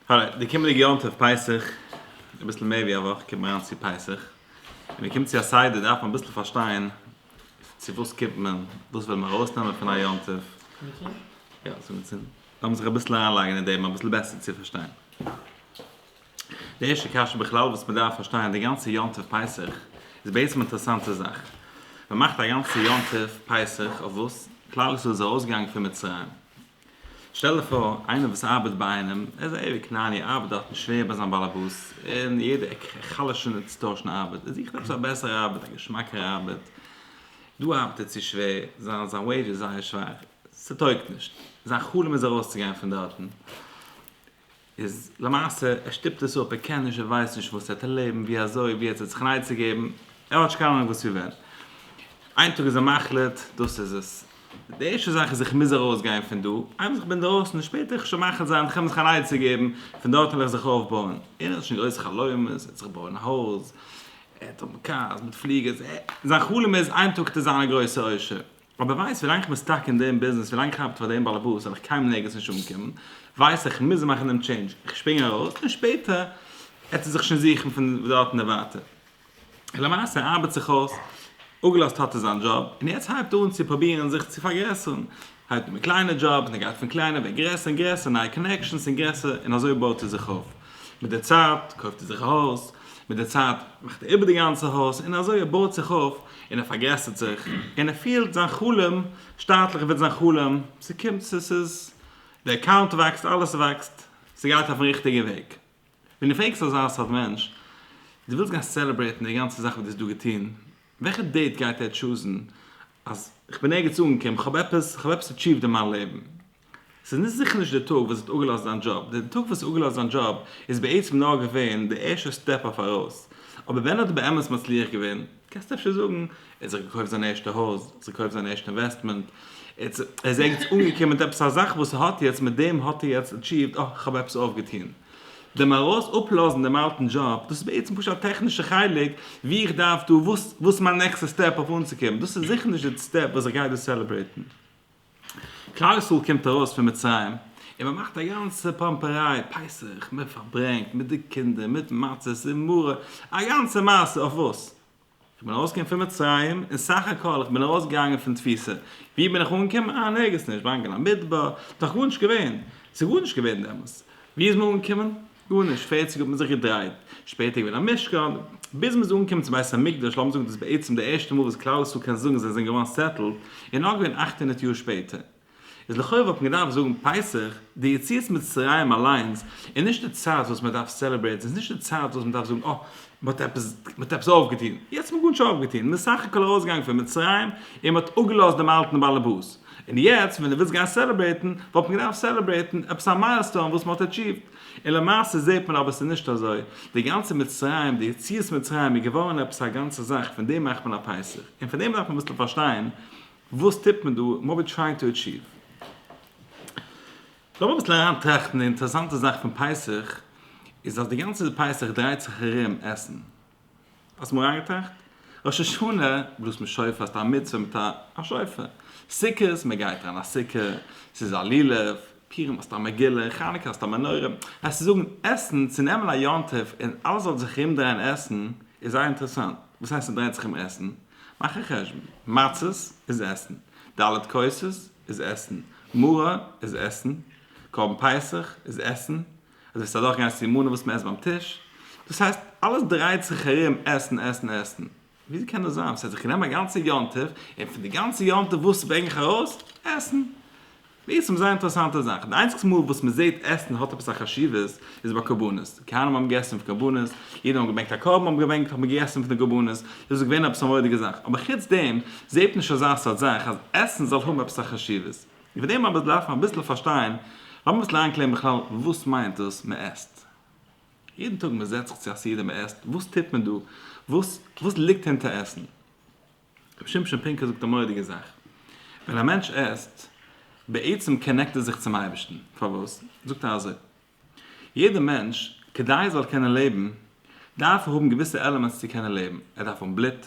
הערט, די קומענדיגע יום טוב פסח, אביסל מער ווי א וואך קומט מען אריין צו פסח, און מען קומט צו א סדר דארף מען אביסל פארשטיין צו וואס קומט מען, וואס וויל מען ארויסנעמען פון א יום טוב, יא ס'איז געצינדן, לאמיר זיך אביסל אריינלייגן אין דעם אביסל בעסער צו פארשטיין. די ערשטע קשיא בכלל וואס מען דארף פארשטיין, די גאנצע יום טוב פסח איז בעצם אינטערעסאנטע זאך, מען מאכט א גאנצע יום טוב פסח אויף וואס? כלל ישראל איז ארויסגעגאנגען פון מצרים, שטעל דיך פאר איינער וואס ארבעט ביי איינעם, ער איז א עירי כנעני, ער ארבעט דארטן שווער ביי זיין באלעבאס, און יעדע עק חלש'ענע צו טוישן ארבעט, ער זוכט עפעס א בעסערע ארבעט, א געשמאקערע ארבעט, דא ארבעט ער צו שווער, זיין זיין וועידזש איז זייער שוואך, ס'טויגט נישט, זיין חלום איז ארויסצוגיין פון דארטן. איז למעשה ער שטופט עס אפ, ער קען נישט, ער ווייסט נישט וואס ער האט ערלעבן, ווי אזוי, ווי ער האט זיך זיך נייעצע געבן, ער האט נישט קיין אנונג וואס ווי ווען. איין טאג איז ער מחליט, דאס איז עס. די ערשטע זאך איז איך מוז ארויס גיין פון דא, איינמאל איך בין דרויסן איז שפעט, איך שוין מחליט זיין, איך קען מיר זיך א נייעצע געבן, פון דארט וועל איך זיך אויף בויען. ער האט שוין גרויסע חלומות, ער וועט זיך בויען א הויז, ער וועט האבן קארס מיט פליגערס, ער, זיין חלום איז איין טאג טו זיין א גרויסע עושר. אבער ווייסט ווילאנג איך בין סטאק אין דעם ביזנעס ווילאנג איך ארבעט פאר דעם באלעבאס וועל איך קיינמאל ערגעץ נישט אנקומען ווייס איך מוז מאכן דעם טשעינדזש איך שפרינג ארויס און שפעטער עט ער זיך שוין זוכן פון דארט און ווייטער און למעשה ער ארבעט זיך אויס אפגעלאזט האט ער זיין דזשאב און יעצט הייבט אן צו פרובירן זיך צו פארגרעסערן הייבט אן מיט קליינע דזשאבס און ער גייט פון קליינע ווערט גרעסער און גרעסער נייע קאנעקשאנס און גרעסער און אזוי בויט ער זיך אויף מיט די צייט קויפט ער זיך א הויז, מיט די צייט מאכט ער איבער די גאנצע הויז, און אזוי ער בויט זיך אויף, און ער פארגרעסערט זיך, און ער פילט זיין חלום שטאטליך ווערט זיין חלום, ס'קומט ס'איז, די אקאונט וואקסט, אלעס וואקסט, ס'גייט אויפן ריכטיגע וועג. ווען דו פרעגסט אזא סארט מענטש, דו ווילסט גיין סעלעברעיטן די גאנצע זאך וואס דו האסט דא געטון, וועלכע דעיט גייט ער טשוזן, אז כ'בין ערגעץ אנגעקומען, כ'האב עפעס, כ'האב עפעס עטשיווד אין מיין לעבן, ס'איז נישט זיכער נישט די טאג וואס ער האט אפגעלאזט זיין דזשאב, די טאג וואס ער האט אפגעלאזט זיין דזשאב איז בעצם נאר געווען די ערשטע סטעפ אויף ארויס, אבער ווען ער האט באמת מצליח געווען, קענסטו אפשר זאגן, ער האט זיך געקויפט זיין ערשטע הויז, ער האט זיך געקויפט זיין ערשטע אינוועסטמענט, ער איז ערגעץ אנגעקומען מיט עפעס א זאך וואס ער האט יעצט, מיט דעם האט ער יעצט עטשיווט, אה, איך האב עפעס אויפגעטון. דעם ארויס אפלאזן דעם אלטן דזשאב, דאס איז בעצם פשוט א טעכנישע חלק, ווי איך דארף דא, וואס איז מיין נעקסטע סטעפ אויף אנצוקומען, דאס איז זיכער נישט די סטעפ וואס איך גיי דא סעלעברעיטן. כלל ישראל קומט ארויס פון מצרים און מען מאכט א גאנצע פאמפעריי, פסח, מען פארברענגט מיט די קינדער מיט מצות און מרה, א גאנצע מעשה אויף וואס? איך בין ארויסגעקומען פון מצרים און סך הכל איך בין ארויסגעגאנגען פון תפיסה, ווי בין איך אנגעקומען? אה נערגיס נישט, באנגעלא מדבר, דאך גארנישט געווען, ס'גארנישט געווען דעמאלס, ווי איז מען אנגעקומען? גארנישט, פערציג האט מען זיך געדרייט, שפעטער איז געווען א משכן, ביז מען איז אנגעקומען צום בית המקדש, לאמיר זאגן דאס איז בעצם די ערשטע מאל וואס כלל ישראל קען זאגן זיי זענען געווארן סעטעלד, איז נאר געווען אַכט הונדערט יאר שפעטער. איז לכאורה וואלט מען געדארפט זאגן פסח, די יציאת מצרים אליינס איז נישט די צייט וואס מען דארף סעלעברעיטן, עס איז נישט די צייט וואס מען דארף זאגן אה, מען האט עפעס, מען האט עפעס אויפגעטון, יעצט האט מען גארנישט אויפגעטון, מען איז סך הכל ארויסגעגאנגען פון מצרים, און מען האט אפגעלאזט דעם אלטן באלעבאס. און יעצט ווען דו ווילסט גיין סעלעברעיטן וואלט מען געדארפט סעלעברעיטן עפעס א מיילסטאון וואס מען האט עטשיווט, און למעשה זעט מען אבער עס איז נישט אזוי, די גאנצע מצרים, די יציאת מצרים איז געווארן עפעס א גאנצע זאך, פון דעם מאכט מען א פסח, און פון דעם דארף מען אביסל פארשטיין וואס טוט מען דא, וואט ווי טרייען טו עטשיוו. לאמיר אביסל אריין טראכטן, די אינטערעסאנטע זאך פון פסח איז אז די גאנצע פסח דרייט זיך ארום עסן, האסט אמאל אריינגעטראכט? ראש השנה בלאזט מען שופר האסט א מצוה מיט א שופר, סוכות מען גייט אריין א סוכה, ס'איז א לולב, פורים האסטו א מגילה, חנוכה האסטו א מנורה, אז צו זאגן עסן צו נעמען א יום טוב און אלעס זאל זיך ארום דרייען עסן איז זייער אינטערעסאנט, וואס הייסט ס'דרייט זיך ארום עסן? מאך א חשבון, מצות איז עסן, ד' כוסות איז עסן, מרור איז עסן, קרבן פסח איז עסן, אז עס וועט אדורך גיין סימנים וואס מען עסט ביים טיש, דאס הייסט אלעס דרייט זיך ארום עסן עסן עסן, וויאזוי קען דאס זיין? ס'הייסט איך נעם א גאנצע יום טוב און פון די גאנצע יום טוב וואס ברענג איך ארויס? עסן! מיר ס'איז מיר זייער אינטערעסאנטע זאך, די איינציגסטע מאל וואס מען זעט עסן האט עפעס א חשיבות איז ביי קרבנות, כהנים האבן געגעסן פון קרבנות, אידן האבן געברענגט א קרבן האבן געברענגט האט מען געגעסן פון די קרבנות, דאס איז געווען עפעס א מורא'דיגע זאך, אבער חוץ דעם זעט מען נישט אזא סארט זאך אז עסן זאל האבן עפעס א חשיבות. איבער דעם אבער דארף מען אביסל פארשטיין, לאמיר אביסל איינקלערן בכלל וואס מיינט דאס מען עסט? יעדן טאג מען זעצט זיך צו א סעודה מען עסט, וואס טוט מען דא? וואס וואס ליגט הינטער עסן? רבי שמשון פינקא זאגט א מורא'דיגע זאך, ווען א מענטש עסט, בעצם קאנעקט ער זיך צום אייבערשטן, פארוואס? זאגט ער אזוי, יעדער מענטש כדי ער זאל קענען לעבן דארף ער האבן געוויסע עלעמענטס צו קענען לעבן, ער דארף האבן בלוט,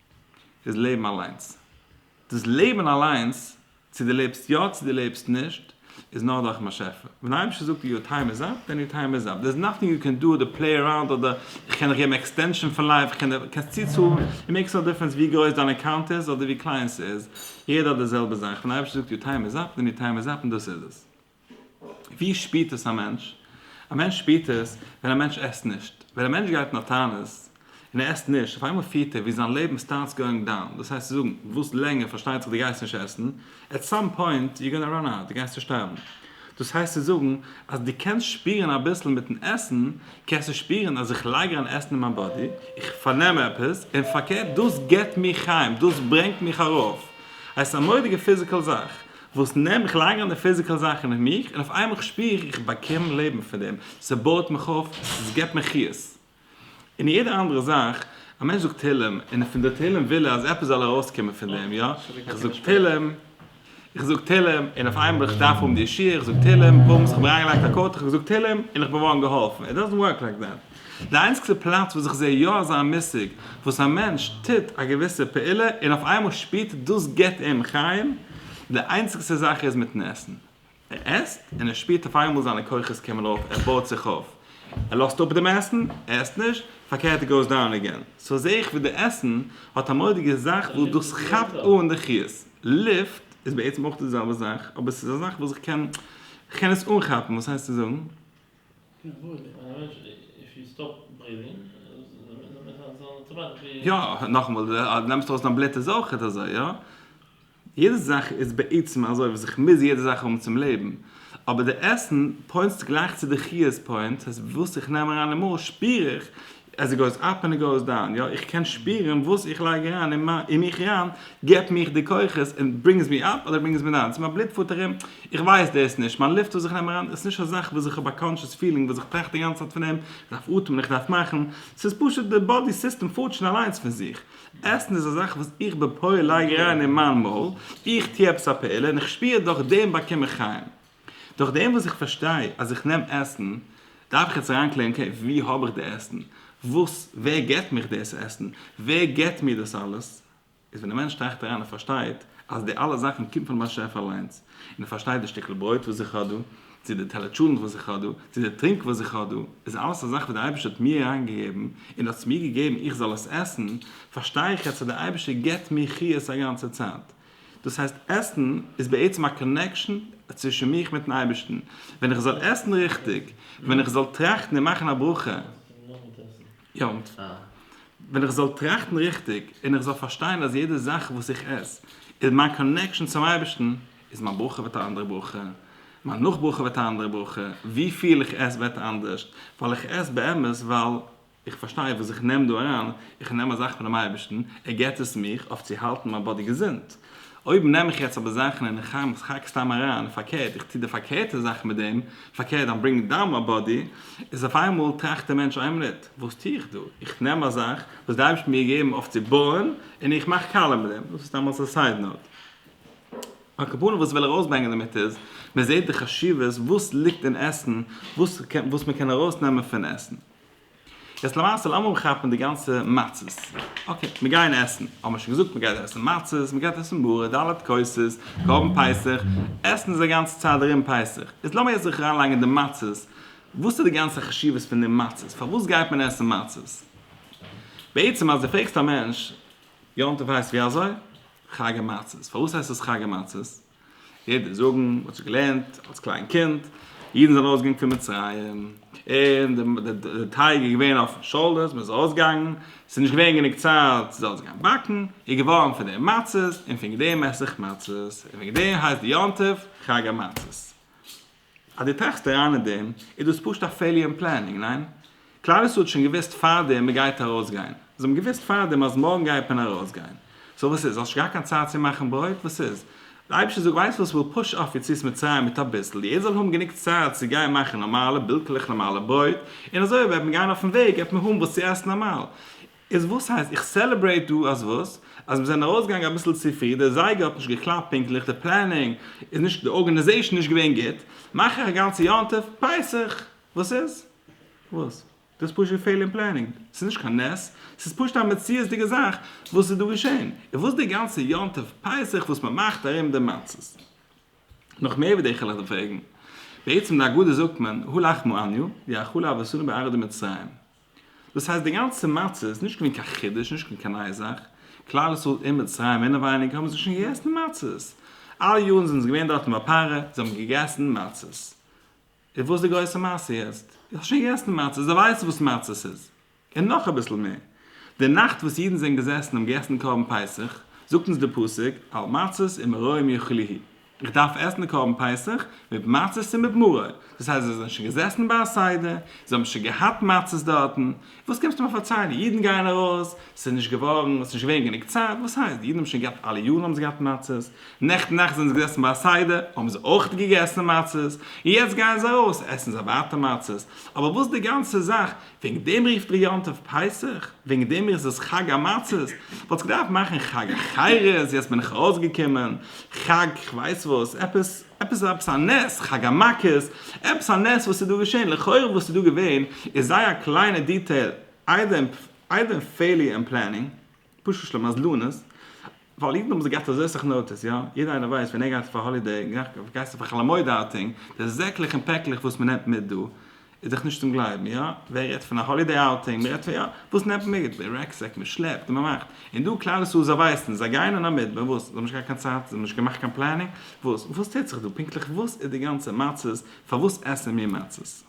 איז לעבן אליינס. דאס לעבן אליינס, צו דו לעבסט יא צו דו לעבסט נישט, איז נאר דורכ'ן באשעפער. ווען דער אייבערשטער זאגט יור טיים איז אפ, דען יור טיים איז אפ. דער איז נאטינג יו קען דא אדער פלעי אראונד אדער איך קען דיך געבן עקסטענשאן פון לייף, איך קען דיך, קענסט צוצאלן, איט מעיקס נאו דיפערענס ווי גרויס דיין אקאונט איז אדער ווי קליין ס'איז, יעדער האט די זעלבע זאך. ווען דער אייבערשטער זאגט יור טיים איז אפ, דען יור טיים איז אפ און דאס איז עס. ווי שפירט עס א מענטש? א מענטש שפירט עס ווען א מענטש עסט נישט. ווען א מענטש גייט אין א תענית און ער עסט נישט, אויף איינמאל פירט ער ווי זיין לעבן סטארטס גאוינג דאון, דאס הייסט צו זאגן, וואס לענגער פארשטייט זיך דו גייסט נישט עסן, עט סאם פוינט יו גאנא ראן אוט, דו גייסט צושטארבן. דאס הייסט צו זאגן, אז דו קענסט שפירן אביסל מיט'ן עסן, קענסטו שפירן אז איך לייג אריין עסן אין מיין באדי, איך פארנעם עפעס, און פארקערט דאס גיבט מיר חיים, דאס ברענגט מיך ארויף. הייסט א מורא'דיגע פיזיקעל זאך. וואס נעם איך לייג אן די פיזיקעל זאכן אין מיך און אויף איינמאל כ'שפיר איך באקום לעבן פון דעם, ס'בויעט מיך אויף, ס'געבט מיר חיות. און יעדע אנדערע זאך, א מענטש זאגט תהילים און פון די תהילים וויל ער אז עפעס זאל ארויסקומען פון דעם, יא? איך זאג תהילים, איך זאג תהילים און אויף איינמאל איך דארף האבן די ישועה, איך זאג תהילים, בומס, כ'האב אריינגעלייגט א קארטל, כ'האב געזאגט תהילים און כ'בין געווארן געהאלפן, איט דאזענט ווארק לייק דעט. די איינציגסטע פלאץ וואס איך זעה יא אזא מושג וואס א מענטש טוט א געוויסע פעולה און אויף איינמאל שפירט ער דאס גיבט אים חיים די איינציגסטע זאך איז מיטן עסן ער עסט און ער שפירט אויף איינמאל זיינע כוחות קומען אויף ער בויט זיך אויף ער לאזט אפ דעם עסן ער עסט נישט פארקערט ער גאוס דאון עגעין סאו זעה איך ווי די עסן האט א מורא'דיגע זאך וואס דאס כאפט אן די חיות לופט איז בעצם אויך די זעלבע זאך אבער ס'איז א זאך וואס איך קען איך קען עס אנכאפן וואס הייסט צו זאגן. יא, נאכאמאל, אז נעמסט ארויס דיין בלוט איז אויכעט אזוי, יא. יעדע זאך איז בעצם אזוי וואס איך מוז יעדע זאך האבן צום לעבן. אבער די עסן פוינטסט גלייך צו די חיות פוינטס, אז וואס איך נעם אריין אין מויל שפיר איך עס איז גאוס אפ און עס גאוס דאון, יא איך קען שפירן וואס איך לייג אריין אין מיך אריין געבט מיך די כוחות און ברינגס מיר אפ אדער ברינגס מיר דאון, צו מיין בלוט פארט ארום, איך ווייס דאס נישט, מיין לופט וואס איך נעם אריין איז נישט א זאך וואס איך האב א קאנטשעס פילינג וואס איך טראכט די גאנצע צייט פון דעם, איך דארף אטעמען איך דארף מאכן, ס'איז פשוט די באדי סיסטעם פארט שוין אליינס פון זיך, עסן איז א זאך וואס איך בפועל לייג אריין אין מיין מויל, איך טו עפעס א פעולה און איך שפיר דורך דעם באקום איך חיים. דורך דעם וואס איך פארשטיי אז איך נעם עסן, דארף איך יעצט אריינקלערן אקעי, וואו האב איך די עסן? וואס, ווער געבט מיך דאס עסן? ווער געבט מיר דאס אלעס? איז ווען א מענטש טראכט אריין און פארשטייט אז די אלע זאכן קומט פון באשעפער אליינס, און ער פארשטייט די שטיקל ברויט וואס איך האב דא, צו די טעלער טשולענט וואס איך האב דא, צו די טרינק וואס איך האב דא, איז אלעס א זאך וואס די אייבערשטער האט מיר אריינגעגעבן, און האט עס מיר געגעבן איך זאל עס עסן, פארשטיי איך יעצט אז די אייבערשטער געבט מיר חיות א גאנצע צייט, דאס הייסט עסן איז בעצם א קאנעקשאן צווישן מיך מיטן אייבערשטן, ווען איך זאל עסן ריכטיג, ווען איך זאל טראכטן און מאכן א ברכה, ווען איך זאל טראכטן ריכטיג און איך זאל פארשטיין אז יעדע זאך וואס איך עס איז מיין קאנעקשאן צום אייבערשטן, איז מיין ברכה ווערט א אנדערע ברכה, מיין נאכברכה ווערט א אנדערע ברכה, ווי פיל איך עס ווערט אנדערש, ווייל איך עס באמת ווייל איך פארשטיי וואס איך נעם דא אריין, איך נעם א זאך פונעם אייבערשטן, ער געבט עס מיך אויף צו האלטן מיין באדי געזונט, אויב נעם איך יעצט אבער זאכן און איך חרם עס חק סתם אריין, פארקערט איך טו די פארקערטע זאך מיט דעם, פארקערט דאן ברענגט דאן מיין באדי, איז אויף איינמאל טראכט דער מענטש איין מינוט, וואס טו איך דא, איך נעם א זאך וואס דער אייבערשטן מיר געגעבן אויף צו בויען און איך מאך קאלער מיט דעם, דאס איז סתם אלס א סייד נאוט. על כפנים וואס איך וויל ארויסברענגען דערמיט איז, מען זעט די חשיבות וואס ליגט אין עסן, וואס מען קען ארויסנעמען פון עסן. יעצט למעשה לאמיר אנכאפן די גאנצע מצות, אקעי מיר גייען עסן, האמיר שוין געזאגט מען גייט עסן מצות, מען גייט עסן מרור, ד' כוסות, קרבן פסח, עסן איז א גאנצע צייט ארום פסח, איז לאמיר יעצט זיך אריין לייגן אין די מצות, וואס איז די גאנצע חשיבות פון די מצות, פארוואס גייט מען עסן מצות? בעצם אז די פרעגסט א מענטש, יום טוב הייסט ווי אזוי? חג המצות, פארוואס הייסט עס חג המצות? ער דער זאגן מען האט שוין געלערנט אלס קליין קינד אידן זענען ארויס געגאנגען פון מצרים און די די טייג איז געווען אויפן שאלות מען איז ארויס געגאנגען ס'איז נישט געווען גענוג צייט צו זאלן זיך גיין באקן איז געווארן פון דעם מצות און פון דעם עס איך מצות און וועגן דעם הייסט די יום טוב חג המצות. אז דו טראכסט אריין אין דעם, איז דאס פשוט א פעיליער אין פלענינג, ניין? כלל ישראל האט שוין געוואוסט פארדעם מען גייט ארויסגיין. זיי האבן געוואוסט פארדעם אז מארגן גייט מען ארויסגיין. סאו וואס איז? האסט שוין געהאט קיין צייט צו מאכן ברויט? וואס איז? דער אייבערשטער זאגט ווייסט וואס כ'וועל פוש אויף יציאת מצרים מיט אביסל, יעדער זאל האבן גענוג צייט צו גיין מאכן נארמאלע, בילקעלעך נארמאלע ברויט, און אזוי אויב וועט מען גיין אויפן וועג וועט מען האבן וואס צו עסן נארמאל. איז וואס הייסט איך סעלעברעיט דא אז וואס? אז מיר זענען ארויסגעגאנגען אביסל צופרי, דער זייגער האט נישט געקלאפט פונקטליך, די פלענינג איז נישט, די ארגענעזעישן נישט געווען גוט, מאך איך א גאנצע יום טוב, פסח, וואס איז? וואס? דאס איז פשוט געפעל אין פלענינג, ס'איז נישט קיין נס, ס'איז פשוט א מציאות'דיגע זאך וואס איז דא געשען, איז וואס די גאנצע יום טוב פסח וואס מען מאכט ארום די מצות? נאך מער ווי די איך העל אייך פרעגן, בעצם די הגדה זאגט מען, הא לחמא עניא, די אכלו אבותינו בארץ דמצרים. דאס הייסט די גאנצע מצה איז נישט געווען קיין חידוש, נישט געווען קיין נייע זאך, כלל ישראל אין מצרים אינעווייניג האבן זיי שוין געגעסן מצות, אלע יארן זענען זיי געווען דארט אין באפארע, זיי האבן געגעסן מצות, איז וואס די גרויסע מעשה יעצט? זיי האבן שוין געגעסן מצות, זיי ווייסן וואס מצות איז, און נאך אביסל מער, די נאכט וואס אידן זענען געזעסן און האבן געגעסן קרבן פסח, זאגט אונז די פסוק, על מצות ומרורים יאכלוהו. איך דארף עסן די קרבן פסח מיט מצות און מיט מרור, דאס הייסט זיי זענען שוין געזעסן ביי א סדר, זיי האבן שוין געהאט מצות דארטן, וואס קומסטו מיר פארציילן, אידן גייען ארויס, ס'איז נישט געווארן, ס'איז נישט געווען גענוג צייט, וואס הייסט, די אידן האבן שוין געהאט, אלע יארן האבן זיי געהאט מצות, נעכטן נאכט זענען זיי געזעסן ביי א סדר, האבן זיי אויך געגעסן מצות, און יעצט גייען זיי ארויס, עסן זיי ווייטער מצות, אבער וואס די גאנצע זאך, וועגן דעם רופט איר יום טוב פסח? וועגן דעם איז עס חג המצות? וואלטסט געדארפט מאכן חג החירות, יעצט בין איך ארויסגעקומען, חג כ'ווייס וואס, עפעס עפעס עפעס א נס, חג המכות, עפעס א נס וואס איז דא געשען, לכאורה וואס איז דא געווען איז זייער א קליינע דיטעיל, איידער איידער פעיליער אין פלענינג. פשוט שלא מזלנות, ווייל אידן האבן זיך געהאט אזוי אסאך נאטיס, יא, יעדער איינער ווייסט ווען ער גייט אויף א האלידעי, גייסטו אויף חול המועד אוטינג, די זעקלעך און פעקלעך וואס מען נעמט מיט דא, איז דאך נישט צום גלייבן, יא, ווער רעדט פון א האלידעי אוטינג, מען רעדט פון יא, וואס נעמט מען מיט, די רעקסעק, מען שלעפט און מען מאכט, און דא כלל ישראל זיי ווייסן, זיי גייען אין א מדבר, וואס, זיי האבן נישט געהאט קיין צייט, זיי האבן נישט געמאכט קיין פלענינג, וואס, וואס טוט זיך דא, פונקטליך וואס איז די גאנצע מצות, פארוואס עסן מיר מצות.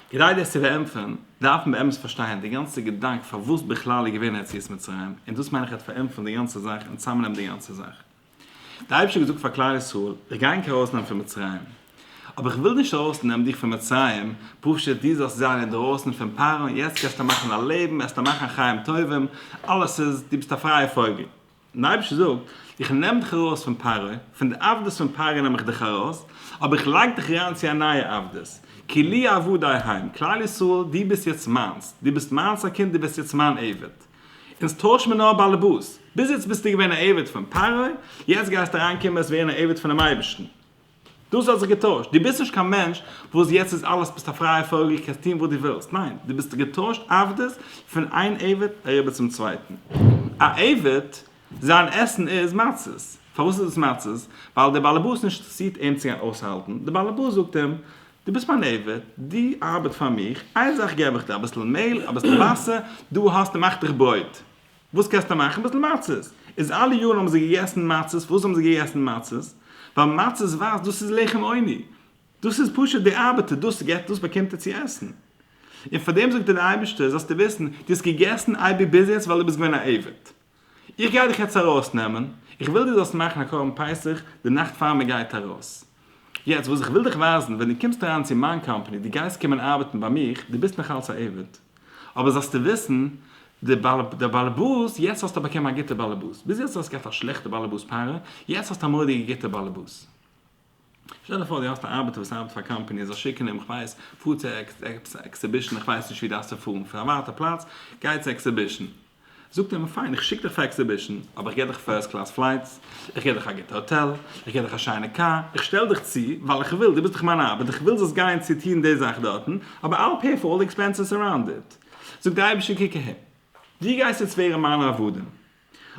כדי דאס צו פארענטפערן, דארף מען באמת פארשטיין די גאנצע געדאנק פארוואס בכלל איז געווען יציאת מצרים, און דאס מיין איך וועט פארענטפערן די גאנצע זאך און צוזאמנעמען די גאנצע זאך. דער אייבערשטער האט געזאגט פאר כלל ישראל, איך גיי ענק ארויסנעמען פון מצרים. אבער איך וויל נישט ארויסנעמען דיך פון מצרים פשוט דו זאלסט זיין אינדערויסן פון פרעה, יעצט קענסטו מאכן א לעבן, עסטו מאכן חיים טובים, אלעס איז, דו ביסט א פרייע פויגל. און דער אייבערשטער זאגט, איך נעם דיך ארויס פון פרעה, פון די עבדות פון פרעה נעם איך דיך ארויס, אבער איך לייג דיך אריין צו א נייע עבדות, כי לי עבדי העם, כלל ישראל, דו ביסט יעצט מיינס, דו ביסט מיינס א קינד, דו ווערסט יעצט מיין עבד. אונז טוישן מיר נאר באלעבאס. ביז יעצט ביסטו געווען א עבד פון פרעה, יעצט גייסטו אריין קומען ווערן א עבד פונעם אייבערשטן. דאס האט זיך געטוישט, דו ביסט נישט קיין מענטש וואס יעצט איז אלעס ביסט א פרייע פויגל קענסט טון וואס דו ווילסט, ניין דו ביסט געטוישט עבדות פון איין עבד אריבער צום צווייטן א עבד זיין עסן איז מצות, פארוואס איז עס מצות? ווייל דער באלעבאס נישט אינטערעסירט אים צו גיין אויסהאלטן, דער באלעבאס זאגט אים דו ביסט מיין עבד דו ארבעט פאר מיך איין זאך געב איך דיר אביסל מעהל אביסל וואסער דו האסט און מאך דיך ברויט. וואס קענסטו מאכן? ביסל מצות. איז אלע יארן האבן זיי געגעסן מצות, פארוואס האבן זיי געגעסן מצות? ווייל מצות ווייזט דאס איז לחם עוני. דאס איז פשוט די ארבעטער, דאס געט, דאס באקומט ער צו עסן. און פאר דעם זאגט דיר דער אייבערשטער, זאלסטו וויסן, דו האסט געגעסן אייביג ביז יעצט ווייל דו ביסט געווען א עבד. איך גיי דיך יעצט ארויסנעמען, איך וויל דו זאלסט מאכן א קרבן פסח די נאכט פאר מען גייט ארויס. יעצט וואס איך וויל דיך ווייזן, ווען דו קומסט אריין צו מיין קאמפאני, דו גייסט קומען ארבעטן ביי מיך, דו ביסט נאך אלץ א עבד, אבער זאלסטו וויסן, די בעל באלעבאס, יעצט האסטו באקומען א גוטע בעלעבאס, ביז יעצט האסט געהאט א שלעכטע בעלעבאס פארע, יעצט האסטו א מורא'דיגע גוטע בעלעבאס. שטעל דיך פאר דו האסט א ארבעטער וואס ארבעט פאר א קאמפאני, ער זאל שיקן אים, כ'ווייס, פאר צו עקסעבישן, כ'ווייס נישט ווי דארפסטו פארן, פון א ווייטע פלאץ, גיי צו עקסעבישן. זאגט ער מיר פיין איך שיק דיך פאר עקסיבישן אבער איך גיב דיך פירסט קלאס פלייטס, איך גיב דיך א גוטע האטעל, איך גיב דיך א שיינע קאר, איך שטעל דיך צו ווייל איך וויל, דו ביסט דאך מיין ארבעט, איך וויל זאלסט גיין צו טון די זאך דארטן, אבער I'll pay for all the expenses around it. זאגט דער אייבישטער קוק אהער, דו גייסט יעצט ווערן מיינע עבדים,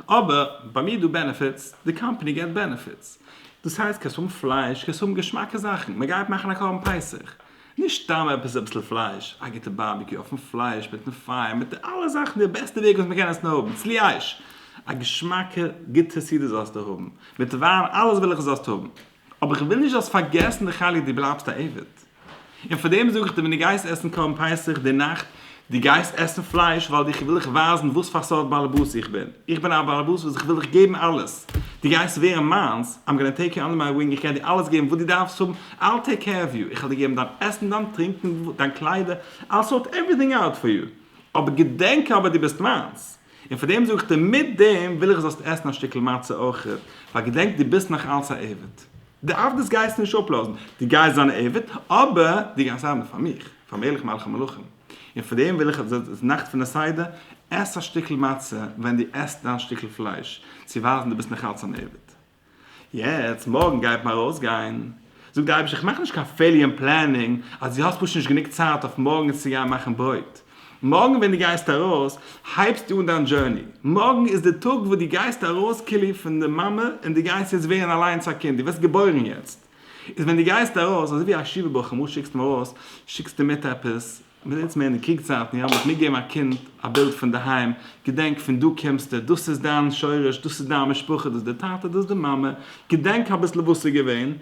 אבער ביי מיר איז דא בענעפיטס, די קאמפאני געט בענעפיטס, דאס הייסט קענסט האבן פלייש, קענסט האבן געשמאקע זאכן, מען גייט מאכן א קרבן פסח, נישט סתם עפעס אביסל פלייש, א גוטע בארביקיו אויפן פלייש מיטן פייער מיט די אלע זאכן די בעסטע וועג וואס מ'קען עסן האבן, צליאש! א געשמאקע גוטע סעודה זאלסטו האבן, מיט וויין אלעס וויל איך זאלסט האבן, אבער איך וויל נישט זאלסט פארגעסן די חלק דו בלייבסט א עבד, און פארדעם זאג איך דיר ווען דו גייסט עסן קרבן פסח די נאכט, דו גייסט עסן פלייש ווייל איך וויל דיך ווייזן וואס פאר סארט באלעבאס איך בין, איך בין א באלעבאס וואס איך וויל דיך געבן אלעס, דו גייסט ווערן מיינס, I'm gonna take you under my wing, איך גיי דיר אלעס געבן וואס דו דארפסט האבן, I'll take care of you, איך וועל דיר געבן דיין עסן, דיין טרינקן, דיין קליידער, I'll sort everything out for you, אבער געדענק אבער דו ביסט מיינס, און פאר דעם זאג איך דיר מיט דעם וויל איך זאלסט עסן א שטיקל מצה אויך, ווייל געדענק דו ביסט נאך אלץ א עבד, די עבדות גייסטו נישט אפלאזן, דו גייסט זיין א עבד, אבער דו גייסט ארבעטן פאר מיך. פאר מלך מלכי מלכים, און פאר דעם וויל איך אז די נאכט פון די סדר, עס א שטיקל מצה ווען דו עסט דיין שטיקל פלייש, צו ווייזן דו ביסט נאך אלץ אן עבד. יעצט, מארגן גייט מען ארויסגיין, זאגט די אייבישטער, איך מאך נישט קיין פעליען פלענינג, אז דו האסט פשוט נישט גענוג צייט אויף מארגנס צו גיין מאכן ברויט. מארגן ווען דו גייסט ארויס, הייבסטו אן דיין דזשורני. מארגן איז די טאג וואס דו גייסט ארויס כללי פון די מאמע, און דו גייסט יעצט ווערן אליינס א קינד, דו ווערסט געבוירן יעצט. איז ווען דו גייסט ארויס, אזוי ווי א שיבער בא כמות שיקסט אים ארויס, שיקסטו מיט עפעס, מיר זענען יעצט מער אין די קריג צייטן, יא, מען האט מיטגעגעבן א קינד א בילד פון די היים, געדענק פון דא קומסטו, דאס איז דיין שורש, דאס איז דיין משפחה, דאס איז די טאטע, דאס איז די מאמע, געדענק אביסל וואס איז געווען,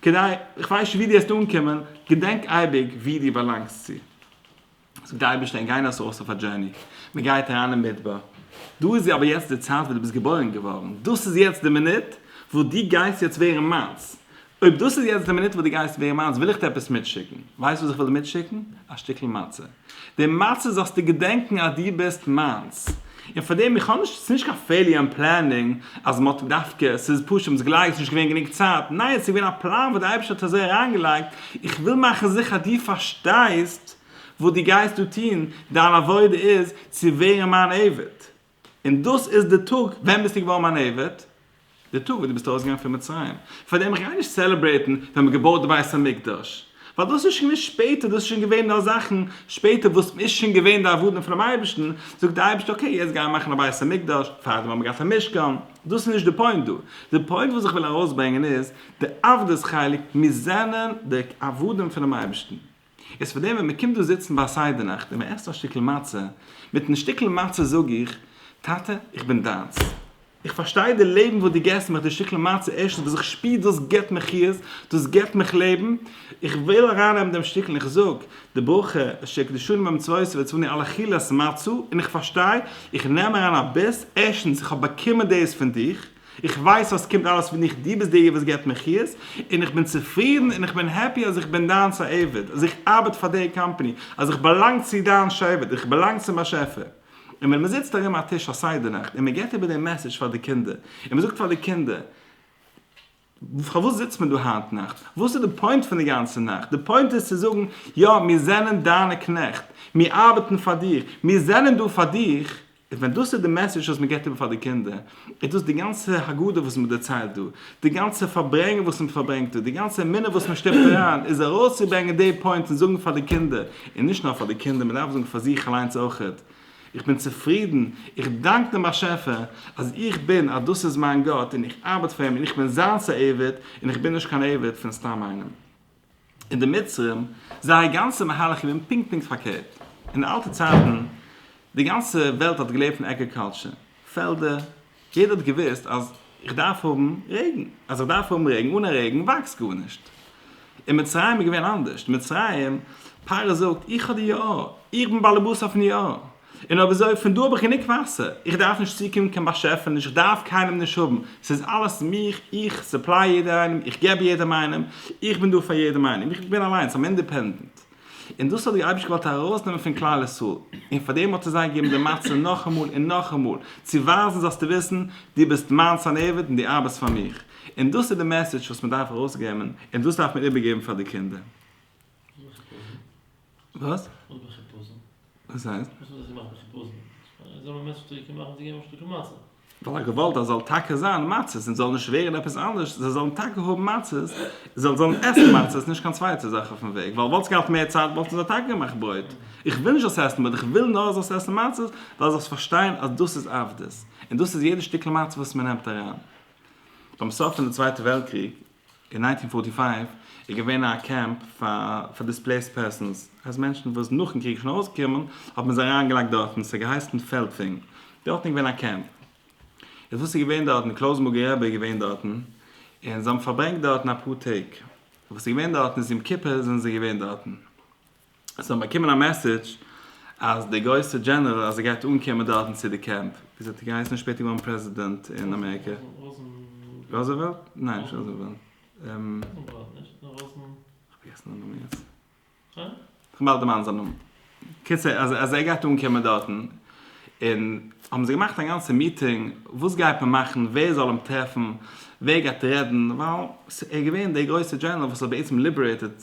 כדי, איך ווייס נישט ווי דו וועסט אנקומען, געדענק אייביג ווי דו באלאנגסט צו. זאגט די אייבערשטער און גייען אויס אויס אויף א דזשערני, מען גייט אריין אין מדבר, דא איז אבער יעצט די צייט וואס דו ביסט געבוירן געווארן, דאס איז יעצט די מינוט וואס דו גייסט יעצט ווערן מיינס, אויב דאס איז יעצט די מינוט וואס דו גייסט ווערן מיינס וויל איך דיר עפעס מיטשיקן, ווייסט וואס איך וויל דיר מיטשיקן? א שטיקל מצה, די מצה זאלסטו געדענקן אז דו ביסט מיינס, און פאר דעם, איך האב נישט, עס איז נישט קיין פעיליר אין פלענינג אז מען האט דווקא, עס איז פשוט מען האט זיך געלייגט, עס איז נישט געווען גענוג צייט, ניין עס איז געווען א פלאן וואס די אייבערשטער האט אזוי אריינגעלייגט, איך וויל מאכן זיכער אז דו פארשטייסט, וואס דו גייסט דא טון, דיין עבודה איז צו ווערן מיין עבד, און דאס איז די טאג, ווען ביסטו געווארן מיין עבד? די טאג וואס דו ביסט ארויסגעגאנגען פון מצרים, פארדעם איך גיי נישט צעלעברעיטן ווען מען האט געבויט די בית המקדש, ווייל דאס איז שוין געווען שפעטער, דאס איז שוין געווען נאר זאכן שפעטער וואס איז שוין געווען די עבודה פונעם אייבערשטן, זאגט דער אייבערשטער אקעי יעצט גיי מאכן א בית המקדש, פארדעם האט מען געהאט א משכן, דאס איז נישט די פוינט דא, די פוינט וואס איך וויל ארויסברענגען איז די עבדות חלק, מיר זענען די עבדים פונעם אייבערשטן. איז פאר דעם ווען מען קומט דא זיצן ביי א סדר נאכט און מען עסט א שטיקל מצה, מיטן שטיקל מצה זאג איך, טאטע, איך בין דיינס. איך פארשטיי די לעבן וואס דו געסט מיך, די שטיקל מצה, ערשטנס וואס איך שפיר דאס געבט מיך חיות, דאס געבט מיך לעבן, איך וויל ארייננעמען דעם שטיקל, און איך זאג די ברכה אשר יקדשנו במצוותיו ויצווני על אכילת מצה, און איך פארשטיי, איך נעם אריין א ביס, ערשטנס איך האב באקומען דאס פון דיך, איך ווייס אז ס'קומט אלעס פון דיך, דו ביסט דער וואס געבט מיר חיות, און איך בין צופרידן און איך בין העפי אז איך בין דיינס א עבד, אז איך ארבעט פאר די קאמפאני, אז איך באלאנג צו דיין שבט, איך באלאנג צום באשעפער. און ווען מען זיצט ארום א טיש א סדר נאכט און מען גיבט איבער דעם מעסעדזש פאר די קינדער, און מען זאגט פאר די קינדער, פארוואס זיצט מען דא היינט נאכט? וואס איז די פוינט פון די גאנצע נאכט? די פוינט איז צו זאגן, יא, מיר זענען דיינע קנעכט, מיר ארבעטן פאר דיך, מיר זענען דא פאר דיך, און ווען דאס איז די מעסעדזש וואס מען גיבט איבער פאר די קינדער, איז דאס די גאנצע הגדה וואס מען דערציילט דא, די גאנצע פארברענגען וואס מען פארברענגט דא, די גאנצע אמונה וואס מען שטופט אריין, איז ארויסצוברענגען די פוינט און זאגן פאר די קינדער, און נישט נאר פאר די קינדער, מען דארף זאגן פאר זיך אליינס אויך, איך בין צופרידן, איך דאנק דעם באשעפער אז איך בין, אז דאס איז מיין גאט, און איך ארבעט פאר אים, און איך בין זיינס א עבד, און איך בין נישט קיין עבד פון סתם איינעם. אין די מצרים זייער גאנצע מהלך איז געווען פונקט פונקט פארקערט, אין די אלטע צייטן די גאנצע וועלט האט געלעבט פון עגריקאלטשער, פעלדער, יעדער האט געוואוסט אז איך דארף האבן רעגן, אז איך דארף האבן רעגן, אן א רעגן וואקסט גארנישט. אין מצרים איז געווען אנדערשט, מצרים, פרעה זאגט, איך האב די יאר, איך בין באלעבאס אויפן יאר. און אויב אזוי, פון דא האב איך גענוג וואסער, איך דארף נישט צוקומען קיין באשעפעניש, איך דארף קיינעם נישט האבן, ס'איז אלעס מיך, איך סופליי יעדער איינעם, איך געב יעדעם איינעם, איך בין דא פאר יעדעם איינעם, איך בין אליינס, איים אינדעפענדענט. און דאס האט דער אייבערשטער געוואלט ארויסנעמען פון כלל ישראל, און פאר דעם האט ער זיי געגעבן די מצה נאכאמאל און נאכאמאל, צו ווייזן זאלסטו וויסן, דו ביסט מיינס אן עבד און דו ארבעסט פאר מיך. און דאס איז די מעסעדזש וואס מען דארף ארויסגעבן, און דאס דארף מען איבערגעבן פאר די קינדער. וואס? וואס בין איך פסול? וואס הייסט? וואס האב איך געמאכט בין איך פסול? זיי האבן א מענטש שטארק געמאכט און זיי געבן אים א שטארקע מצה. ווייל ער געוואלט אז זאל טאקע זיין מצות און זאל נישט ווערן עפעס אנדערש, זיי זאלן טאקע האבן מצות, זיי זאלן עסן מצות נישט קיין צווייטע זאך אויפן וועג, ווייל וואלטסט געהאט מער צייט וואלטן זיי טאקע געמאכט ברויט, איך וויל נישט זאלסט עסן ברויט איך וויל נאר זאלסט עסן מצות ווייל זאלסט פארשטיין אז דאס איז עבדות, און דאס איז יעדע שטיקל מצה וואס מען נעמט אריין. ביים סוף פון די צווייטע וועלט קריג אין נײַנצן פֿאָרטי פֿײַוו איז געווען א קעמפ פאר דיספלעיסד פערסאנס, אז מענטשן וואס נאכן קריג שוין ארויסגעקומען האט מען זיי אריינגעלייגט דארטן, ס'האט געהייסן פעלדפינג, דארטן איז געווען א קעמפ, איז וואס איז געווען דארטן, קלויזנבורגער רבי איז געווען דארטן, און זיי האבן פארברענגט דארטן אפאר טעג, וואס איז געווען דארטן, איז יום כיפור זענען זיי געווען דארטן. עס האט באקומען א מעסעדזש אז די גרויסע דזשענעראל אז ער גייט אנקומען דארטן צו די קעמפ ווי עס האט געהייסן איז שפעטער געווארן פרעזידענט אין אמעריקע ראזעוועלט? ניין נישט ראזעוועלט איך וועל דערמאנען זיין נאמען קיצער אז ער גייט אנקומען דארטן און האבן זיי געמאכט א גאנצע מיטינג וואס גייט מען מאכן ווער זאל אים טרעפן ווער גייט רעדן ווייל ער איז געווען דער גרויסע דזשענעראל וואס האט בעצם ליבערעיטעד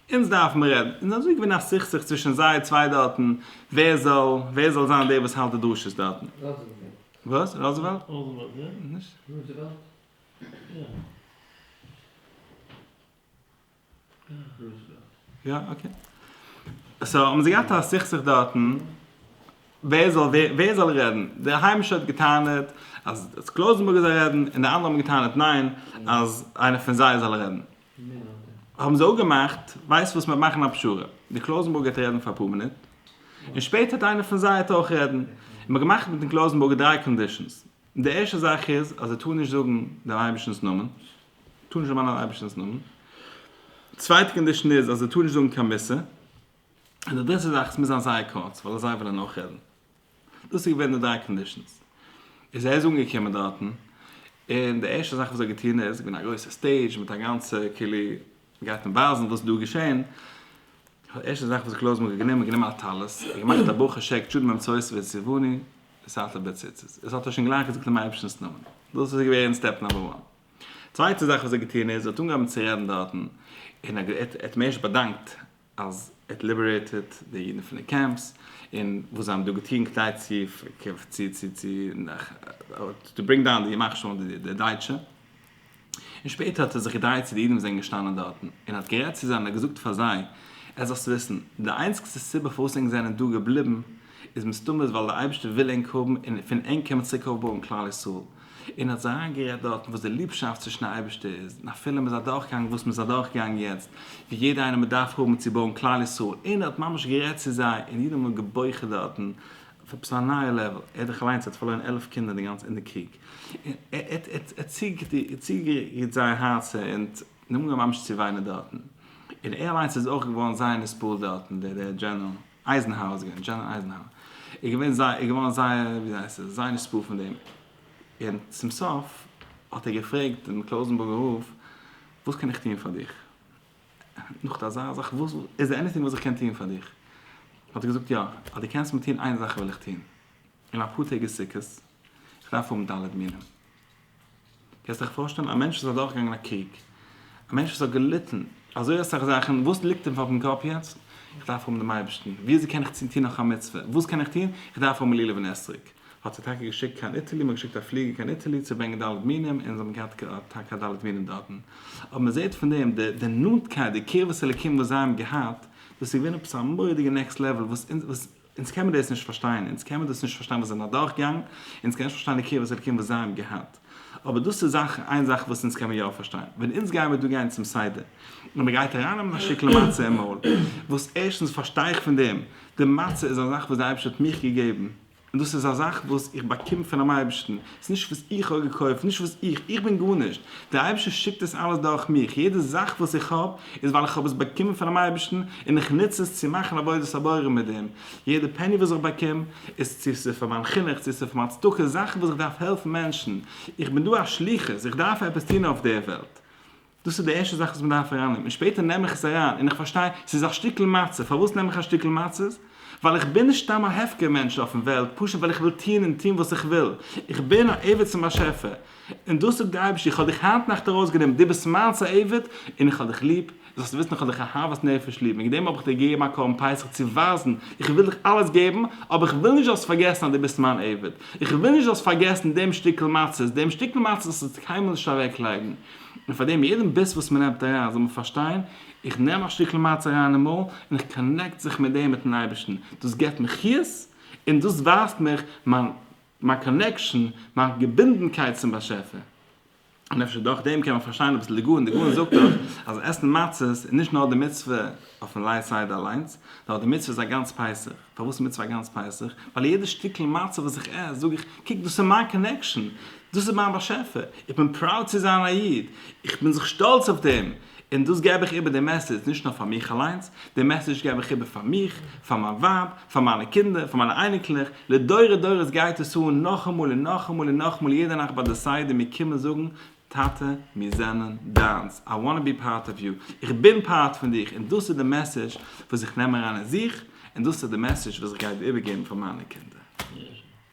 אונז דארף מען רעדן, און אזוי איז געווען א סכסוך צווישן זיי צוויי דארטן, ווער זאל, ווער זאל זיין דער וואס האלט די דרשות דארטן. וואס? ראזעוועלט? יא, אקעי. סאו האבן זיי געהאט א סכסוך דארטן, ווער זאל, ווער זאל רעדן. דער היימישער האט געטענה'ט אז קלויזענבורג זאל רעדן, און די אנדערע האבן געטענה'ט ניין, אז איינער פון זיי זאל רעדן. האבן זיי אפגעמאכט, ווייסט וואס מיר מאכן א פשרה, דער קלויזענבורגער האט רעדן פאר אפאר מינוט, און שפעטער האט איינער פון זיי האט אויך רעדן, און מ'האט געמאכט מיטן קלויזענבורגער דריי קאנדישאנס, די ערשטע זאך איז אז ער טאר נישט זאגן דעם אייבערשטנ'ס נאמען, טאר נישט דערמאנען אייבערשטנ'ס נאמען, די צווייטע קאנדישאן איז אז ער טאר נישט זאגן קיין מוסר, און די דריטע זאך עס מוז זיין זייער קורץ ווייל אזי וועלן אויך רעדן. דאס איז געווען די דריי קאנדישאנס. איז ער איז אנגעקומען דארטן, און די ערשטע זאך וואס ער האט געטון איז, געווען א גרויסע סטעידזש מיט א גאנצע כאילו גייט מען ווייזן וואס איז דא געשען, די ערשטע זאך וואס קלויזמאן האט גענומען, גענומען א טלית, און געמאכט א ברכה שעק טשו ד ממצות ועיזבוני סעלתא בציצית, דאס האט ער שוין גלייך געזאגט אין אייבערשטנ'ס נאמען, דאס איז געווען סטעפ נומבער וואן. צווייטע זאך וואס ער האט געטון איז, ער האט אנגעהויבן צו רעדן דארטן, און ער האט אים ערשט באדאנקט, אז ער האט ליבערעיטעד די אידן פון די קעמפס, און וואס זיי האבן דא געטון כדי צו טו ברינג דאון די ימח שמו די דייטשע, און שפעטער האט ער זיך געדרייט צו די אידן וואס זענען געשטאנען דארטן, און האט גערעדט צו זיי און האט געזאגט פאר זיי, עס זאלסטו וויסן, די איינציגסטע סיבה פארוואס ענק זענען דא געבליבן, איז מסתמא איז ווייל דער אייבערשטער וויל ענק האבן און פון ענק קען מען צוריק אויפבויען כלל ישראל, און האט זיי אריינגערעדט דארטן וואס די ליבשאפט צווישן די אייבערשטער איז, און אפילו מ'איז אדורכגעגאנגען וואס מ'איז אדורכגעגאנגען יעצט, ווי יעדער איינער מ'דארף האבן צו בויען כלל ישראל, און ער האט ממש גערעדט צו זיי, און יעדערמאן האט געבויכעט דארטן, אויף עפעס א נייע לעוועל, ער האט דאך אליינס ער האט פארלוירן עלף קינדער די גאנצע אין די קריג, און ער ער האט ער האט צוגערירט זייער הארצער, און זיי האבן אנגעהויבן ממש צו וויינען דארטן, און ער אליינס איז אויך געווארן זייער נסבל דארטן, דער דער דזשענעראל. אייזנהאר איז געווען, דזשענעראל אייזנהאר איז געווען זייער, איז געווארן זייער, ווי זאגט מען עס, זייער נספּעל פון דעם, און צום סוף האט ער געפרעגט דעם קלויזענבורגער רב, וואס קען איך טון פאר דיך? נאך אזא זאך, וואס, איז דא עניטינג וואס איך קען טון פאר דיך? האט ער געזאגט, יא, אז דו קענסט מיר טון איין זאך וועל איך טון, אין אפאר טעג איז סוכות, איך דארף האבן ד' מינים. קענסט דיך פארשטעלן א מענטש וואס איז אדורכגעגאנגען א קריג? א מענטש וואס האט געליטן אזוי אסאך זאכן, וואס ליגט אים אויפן קאפ יעצט? איך דארף האבן דעם אייבערשטן, ווי אזוי קען איך צו טון נאך א מצוה? וואס קען איך טון? איך דארף האבן לולב און אתרוג. האט זיי טאקע געשיקט קיין איטעלי, מ'האט געשיקט א פליגער קיין איטעלי צו ברענגען ד' מינים, און זיי האבן געהאט טאקע א ד' מינים דארטן. אבער מ'זעט פון דעם די נאנטקייט, די קרבת אלוקים וואס זיי האבן געהאט, דאס איז געווען עפעס א מורא'דיגע נעקסט לעוועל וואס אונז, וואס. אונז קען מען דאס נישט פארשטיין, אונז קען מען דאס נישט פארשטיין וואס זיי זענען אדורכגעגאנגען, אונז קען נישט פארשטיין די קרבת אלקים וואס זיי האבן געהאט, אבער דאס איז זאך, איין זאך וואס אונז קען מען יא פארשטיין, ווען אונז גייען מיר דא גיין צום סדר, און מען גייט ארייננעמען א שטיקל מצה אין מויל, וואס ערשטנס פארשטיי איך פון דעם, די מצה איז א זאך וואס דער אייבערשטער האט מיך געגעבן, און דאס איז א זאך וואס איך באקום פונעם אייבערשטן, ס'איז נישט וואס איך האב געקויפט, נישט וואס איך, איך בין גארנישט, דער אייבערשטער שיקט עס אלעס דורך מיך, יעדע זאך וואס איך האב איז ווייל איך האב עס באקומען פונעם אייבערשטן און איך נוץ עס צו מאכן עבודת הבורא מיט דעם, יעדע פעני וואס איך באקום איז צו ס'איז פאר מיין חינוך, צו ס'איז פאר מיין צדקה, זאכן וואס איך דארף העלפן מענטשן, איך בין דא א שליחות, איך דארף עפעס טון אויף דער וועלט, דאס איז די ערשטע זאך וואס מען דארף אריין נעמען, שפעטער נעם איך עס אריין און איך פארשטיי ס'איז א שטיקל מצה, פארוואס נעם איך א שטיקל מצות? ווייל איך בין נישט סתם א הפקר מענטש אויפן וועלט, פשוט ווייל איך וויל טוהן און טוהן וואס איך וויל, איך בין א עבד צום באשעפער, און דאס זאגט די אייבערשטער איך האב דיך היינט נאכט ארויס גענומען, דו ביסט מיינס א עבד און איך האב דיך ליב, זאלסט וויסן איך האב דיך אהבת נפש ליב, וועגן דעם האב איך דיר געגעבן א קרבן פסח צו ווייזן איך וויל דיך אלעס געבן, אבער איך וויל נישט זאלסט פארגעסן אז דו ביסט מיין עבד, איך וויל נישט זאלסט פארגעסן דעם שטיקל מצות, דעם שטיקל מצות זאלסטו קיינמאל נישט אוועק לייגן. און פאר דעם יעדן ביס וואס מען נעמט אריין זאל מען פארשטיין, איך נעם א שטיקל מצה אריין אין מויל און איך קאנעקט זיך מיט דעם מיטן אייבערשטן, דאס געבט מיר חיות און דאס ווייזט מיך מיין מיין קאנעקשאן, מיין געבינדנקייט צום באשעפער. און אפשר דורך דעם קען מען פארשטיין אביסל די גאון, די גאון זאגט דאך אז עסן מצות איז נישט נאר די מצוה אויפן לייט סדר אליינס, נאר די מצוה איז א גאנץ פסח. פארוואס מצוה גאנץ פסח? ווייל יעדע שטיקל מצה וואס איך עס, זאג איך, קוק דאס איז מיין קאנעקשאן, דאס איז מיין באשעפער, איך בין פראוד צו זיין א איד, איך בין זיך שטאלץ אויף דעם, און דאס געב איך איבער די מעסעדזש נישט נאר פאר מיך אליינס, די מעסעדזש געב איך איבער פאר מיך, פאר מיין ווייב, פאר מיינע קינדער, פאר מיינע אייניקלעך, לדורי דורות גייט עס אן נאכאמאל און נאכאמאל און נאכאמאל יעדע נאכט ביי די סדר מיר קומען זאגן טאטע מיר זענען דיינס, איי וואנט טו בי פארט אוו יו, איך בין פארט פון דיך, און דאס איז די מעסעדזש וואס איך נעם אריין אין זיך, און דאס איז די מעסעדזש וואס איך גיי איבערגעבן פאר מיינע קינדער.